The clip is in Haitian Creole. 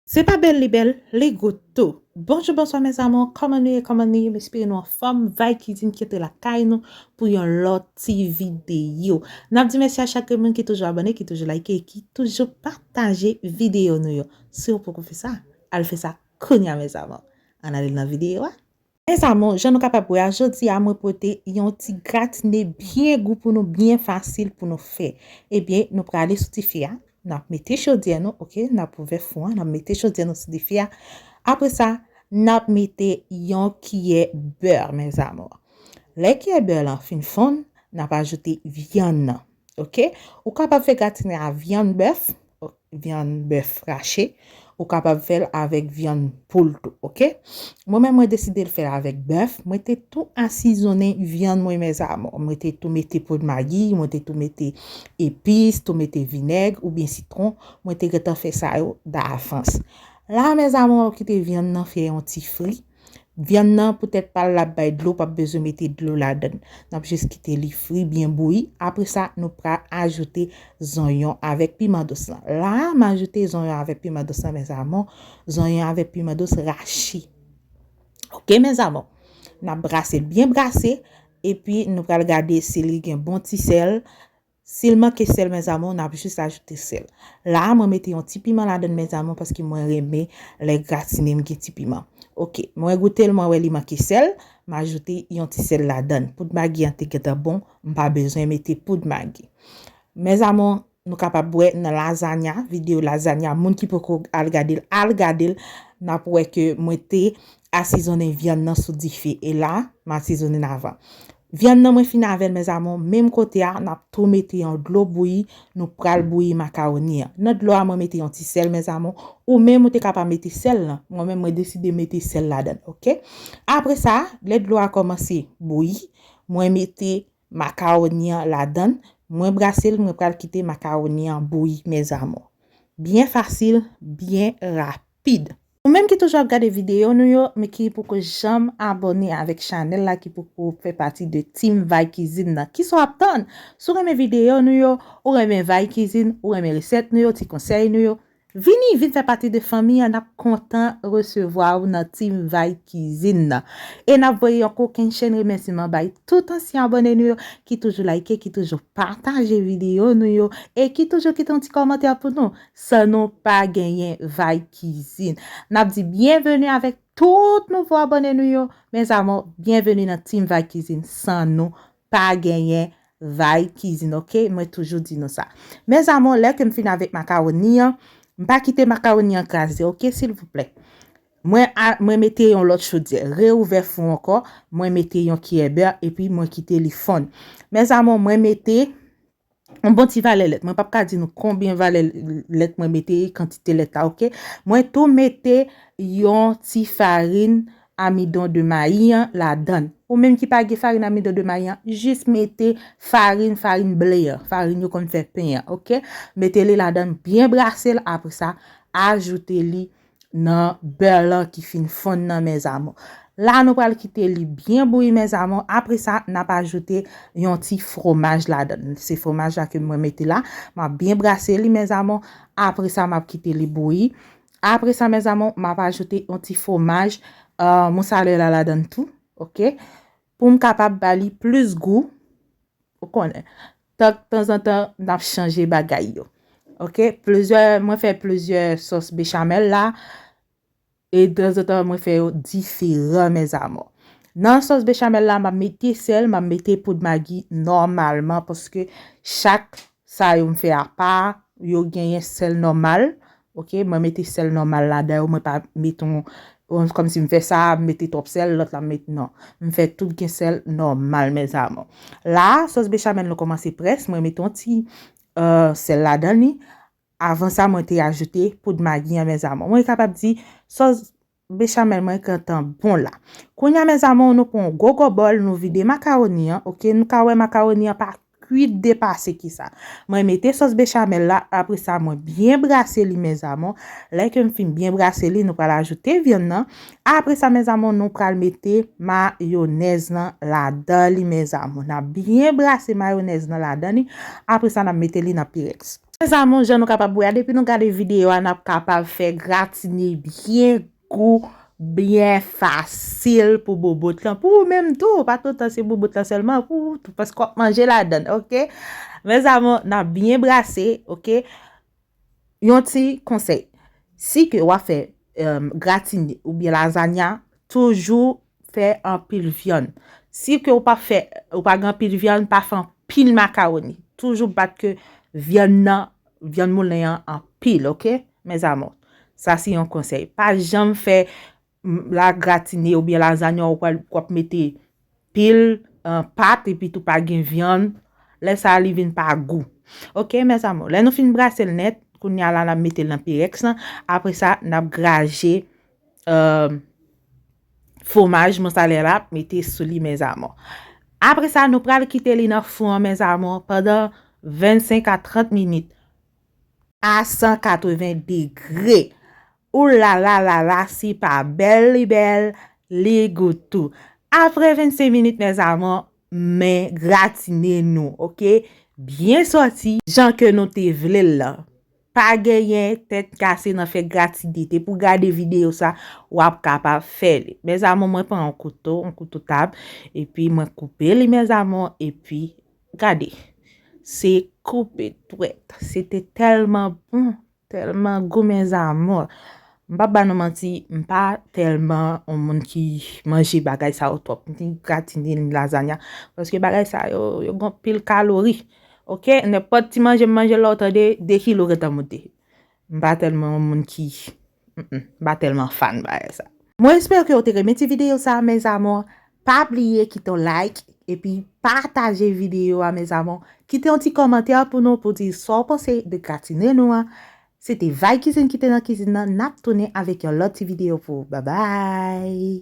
Se pa bèl li bèl, li gout tou. Bonjou bonswa mes amours kòman nou ye kòman nou ye m espere nou anfòm Vibe cuisine kite lakay nou pou yon lòt ti video nap di mèsi a chak grenn moun ki toujou abòne ki toujou like e ki toujou pataje video nou yo siw poko fè sa al fè sa kounya mes amours ann ale nan video a. Mes amours, jan nou kapab wè a, jodi a mwen pote yon ti gratine byen gou pou nou, byen fasil pou nou fè. Ebyen, nou prale sou dife a, nap mete chodyè nou, ok, nap ouvè fou an, nap mete chodyè nou sou dife a. Apre sa, nap mete yon kiyè beur, mes amours. Lè kiyè beur lan fin fonn, nap ajoute vyann nan, ok. Ou kapab fè gratine a vyann bèf, ok. vyann bèf rache, ou kapab fèl avèk vyann poul tou ok, mwen menm mwen desidel fèl avèk bèf, mwen te tou asizonnen vyann mwen mèzamò, mwen te tou mete poud magi, mwen te tou mete epis, tou mete vinèg ou byen sitron, mwen te gentan fè sa yo davans. La mèzamò kite vyann nan fè yon ti fri. Vyann nan pou tèt pal lap bay dlo pap bezwen mete dlo ladann. Nap jis kite li fri byen bouyi apre sa nou pra ajoute zonyon avèk piman dous lan. La a m ajoute zonyon avèk piman dous lan mes amour, zonyon avèk piman dous rachi. Ok mes amour. Nap brase byen brase epi nou pral gade si li gen bon ti sèl. Sil manke sèl mes amours nap jus ajoute sèl. La a mwen mete yon ti piman ladann mes amours paske mwen renmen lè gratine m gen ti piman. Ok mwen goutel mwen wè li manke sèl m ajoute yon ti sèl ladann. Poud magi an te gentan bon m pa bezwen mete poud magi. Mes amours nou kapab wè nan lasagna video lasagna moun ki poko al gadel al gadel nap wè ke mwen te asizonnen vyann nan sou dife e la m asizonenn avan. Vyann nan mwen fin avèl mes amours menm kote a nap tou mete yon dlo bouyi nou pral bouyi macaroni an nan dlo a mwen mete yon ti sèl mes amours ou menm ou te ka pa mete sèl nan mwen menm mwen deside mete sèl ladann ok apre sa lè dlo a kòmanse bouyi mwen mete macaroni an ladann mwen brasel mwen pral kite macaroni an bouyi mes amours byen fasil byen rapid. Ou menm ki toujou ap gade videyo nou yo men ki poko janm abòne avèk chanèl la ki poko fè pati de team vay kizin nan kisa w ap tann si w renmen videyo nou yo ou renmen vay kizin ou renmen resèt nou yo ti konsèy nou yo vini vin fè pati de fanmi an n ap kontan resevwa w nan team vay kizin nan e n ap voye yon kokenn chenn remèsiman bay tout ansyen abòne nou yo ki toujou layke ki toujou pataje videyo nou yo e ki toujou kite yon ti kòmantè pou nou San nou pa genyen vay kizin. Nap di byenveni avèk tout nouvo abòne nou yo mes amour byenveni nan team vay kizin san nou pa genyen vay kizin ok mwen toujou di nou sa mes amour lè kem fini avèk makaroni an m pa kite makaroni an kraze ok silvouplè mwen mwen mete yon lòt chodyè re ouvè fou ankò mwen mete yon kiyè bè epi mwen kite li fonn mes amour mwen mete yon bon ti valè lèt mwen pap ka di nou konbyen valè lèt mwen mete kantite lèt la ok mwen tou mete yon ti farin amidon de mayi an ladan ou menm ki pa gen farin amidon de mayi an jis mete farin farin ble an farin yo konn fè pen an ok mete li ladan byen brase l apre sa ajoute li nan beurre lan ki fin fonn nan mes amours. La nou pral kite li byen bouyi mes amours, apre sa nap ajoute yon ti fromaj ladann. Se fromaj la ke mwen mete la, map byen brase li mes amours, apre sa map kite li bouyi. Apre sa mes amours, map ajoute yon ti fromaj moussalela ladann tou, ok, poum kapab ba li plis gou, ou konnen. Tank tanzantan nap chanje bagay yo ok plizyè mwen fè plizyè sòs bechamel la e tanzantan mwen fè yo diferan mes amours nan sòs bechamel la map mete sèl map mete poud magi nòmalman paske chak sa yo m fè apa yo genyen sèl nòmal Ok mwen mete sèl nòmal ladan yo mwen pa met yon kòm si m fè sa m mete twòp sèl lòt la m met non m fè tout gen sèl nòmal mes amour la sòs bechamèl nou kòmanse près mwen mete yon ti sèl ladan li avan sa mwen te ajoute poud magi an mes amour mwen kapab di sòs Bechamel mwen gentan bon la. Kounya mes amour nou pran yon gogo bòl nou vide macaroni an ok nou ka wè macaroni an pa kwit depase kisa mwen mete sos bechamel la apresa mwen byen brase li mes amour lè kem fin byen brase li nou pral ajoute vyann nan apresa mes amour nou pral mete mayonèz lan ladan li mes amour nap byen brase mayonèz nan ladan li apresa nap mete li nan pyrex. Mes amour jan nou kapab wè a depi nou gade video a nap kapab fè gratine byen gou byen fasil pou bobot lan pou ou menm tou pa tout tan se bobot lan selman pou ou tou paske wap manje ladann ok mes amour nap byen brase ok yon ti konsèy si ke wap fè gratine oubyen lazanya toujou Fè anpil vyann. Si ke ou pa fè, ou pa gen anpil vyann, pa fè anpil makaroni. Toujou bat ke vyann nan, vyann moulen an anpil, ok? Mes amours. Sa se yon konsèy. Pa janm fè la gratine ou byen la zanyan ou pral wap mete pil pat epi tou pa gen vyann. Lè sa li vin pa gou. Ok, mes amours. Lè nou fin brase l nèt, kounye a la nap mete l nan pirèks lan. Apre sa, nap graje euh, fomaj mozzarella la mete sou li mes amours. Apre sa nou pral kite li nan fou an mes amours pandan 25 a 30 minit a 180 degre. Ou la la la la si pa bèl li bèl li gou tou. Apre 25 minit mes amours men gratine nou ok byen soti jan ke nou te vle l lan. Pa genyen tèt kase nan fè gratidite pou gade video sa wap kapab fè li mes amour mwen pran yon kouto yon kouto tab epi mwen koupe li mes amour epi gade se koupe dwèt se te tèlman bon tèlman gou mes amour m pap ba nou manti m pa tèlman yon moun ki manje bagay sa yo twòp ni gratine ni lazanya paske bagay sa yo yo gen anpil kalori Ok nenpòt ti manje m manje la w tande 2 kilo gentan moute m pa tèlman yon moun ki m pa tèlman fan bagay sa. Mwen espere ke ou te renmen ti video sa mes amours pa bliye kite yon like epi pataje video a mes amours kite yon ti kòmantè pou nou pou di sa ou panse de gratine nou an se te Vay Cuisine ki te nan kizin nan nap tounen avèk yon lòt ti video pou ou babay.